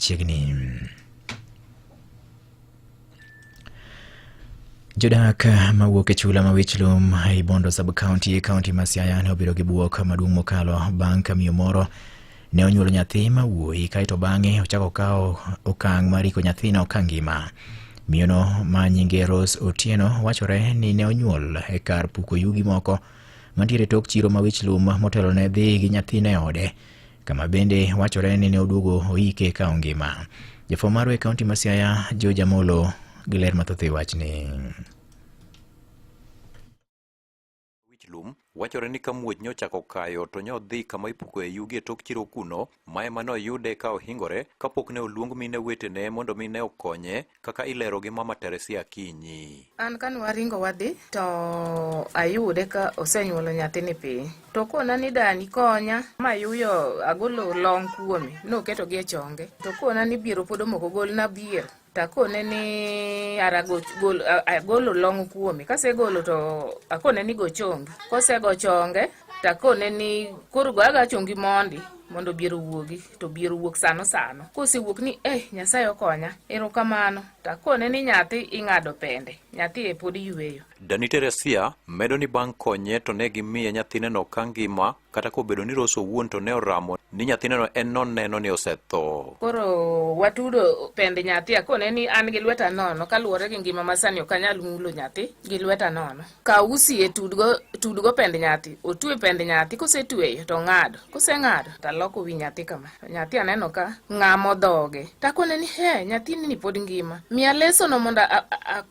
chiegni. Jodak mawuok e chula ma Wichlum ei Bondo sub county e kaunti ma Siaya ne obiro gi buok maduong' mokalo bang' ka miyo moro ne onyuolo nyathi ma wuoyi kaeto bang'e ochako kawo okang' mar riko nyathino ka ngima. Miyono ma nyinge Rose Otieno wachore ni ne onyuol e kar puko yugi moko mantiere tok chiro ma Wichlum motelo ne dhi gi nyathine ode kama bende wachore ni ne oduogo oike ka ongima. Jafwambo marwa e kaunti ma Siaya, George Amolo gi ler mathoth e wachni. Wichlum wachore ni ka muoch nyochako kayo to nyodhi kama ipukoe yugi e tok chiro kuno ma ema noyude ka ohingore kapok ne oluong mine wetene mondo mine okonye kaka ilero gi mama Teresia Akinyi. An kane waringo wadhi to ayude ka osenyuolo nyathini piny to kona ni dani konya mayuyo agolo long kuome noketo gi e chonge to kona ni biero pod omoko gol na biero takone ni ara agolo long kuome kasegolo to akone ni gochonge kosego chonge takone ni koro goyaga chongi mondi mondo biero wuogi to biero wuok sano sano kosewuok ni eh nyasaye okonya erokamano takone ni nyathi ing'ado pende nyathi e pod yueyo dani teresia medo ni bang' konye to ne gimiye nyathineno ka ngima kata kobedo ni roso wuon to ne oramo ni nyathineno en noneno ni osetho koro watudo pende nyathi akone ni an gi lweta nono kaluwore gi ngima ma sani ok anyal mulo nyathi gi lweta nono Kaw usi e tudgo, tudgo pend nyathi, otue pend nyathi, kosetueyo to ng'ad, koseng'ado to aloko wi nyathi kama. To nyathi aneno ka ng'amo dhoge. Takone ni he, nyathini ni pod ngima. Miya lesono mondo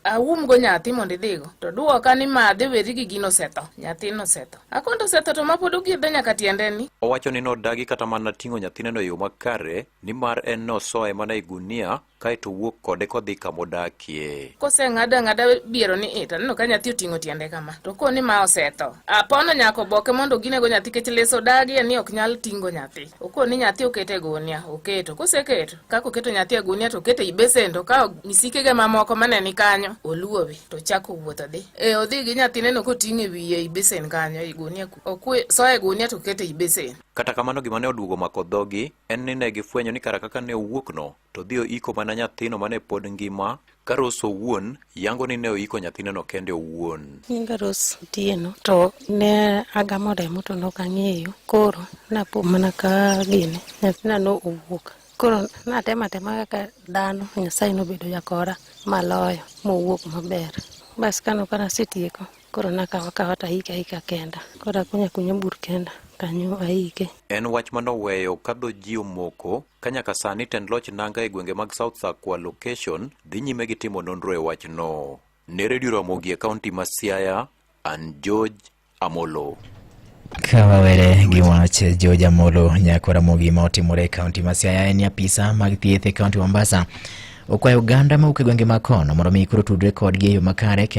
aumgo nyathi mondo idhigo. To dwoka ni madhe weri gi gino osetho. Nyathino osetho. Akonto osetho to ma pod ogiedhe nyaka tiendeni. Owacho ni nodagi kata mana ting'o nyathineno e yo makare nimar en nosoye mana e gunia kae to wuok kode kodhi kama odakie. Koseng'ado ang'ada biero ni ita, neno ka nyathi oting'o tiende kama, to ko ni ma osetho. Apono nyako boke mondo ginego nyathi kech leso dagie ni ok nyal tingo nyathi. Oko ni nyathi okete gunia, oketo. Koseketo, kaka oketo nyathi e gunia to okete i besen to ka misikege mamoko mane ni kanyo, oluowe to chako wuotho dhi. E odhi gi nyathi neno koting'e wiye i besen kanyo i gunia, okwe soe gunia to okete i besen. Kata kamano gima ne oduogo mako dhogi en ni ne gifwenyo ni kara kaka ne owuokno to dhi oiko mana nyathino mane pod ngima ka Rose owuon yango ni ne oiko nyathineno kende owuon. Nyinga Rose Otieno to ne agamo remo to nok ang'eyo koro napo mana ka gini nyathina no owuok koro natema tema kaka dhano Nyasaye nobedo jakora maloyo mowuok maber bas kano kanasetieko Koro nakawa kawa to ahika ahika kenda. Koro akunya kunya bur kenda kanyo ahike. En wach ma noweyo ka dho ji omoko ka nyaka sani tend loch nanga e gwenge mag South Sakwa location dhi nyime gi timo nonro e wachno. Ne redio Ramogi e kaunti ma Siaya, an George Amolo. Ka wawere gi wach George Amolo nyako Ramogi ma otimore e kaunti ma Siaya en apisa mag thieth e kaunti Mombasa okwayo oganda mawuok e gwenge ma kono mondo mi koro tudre kodgi e yo makare kendo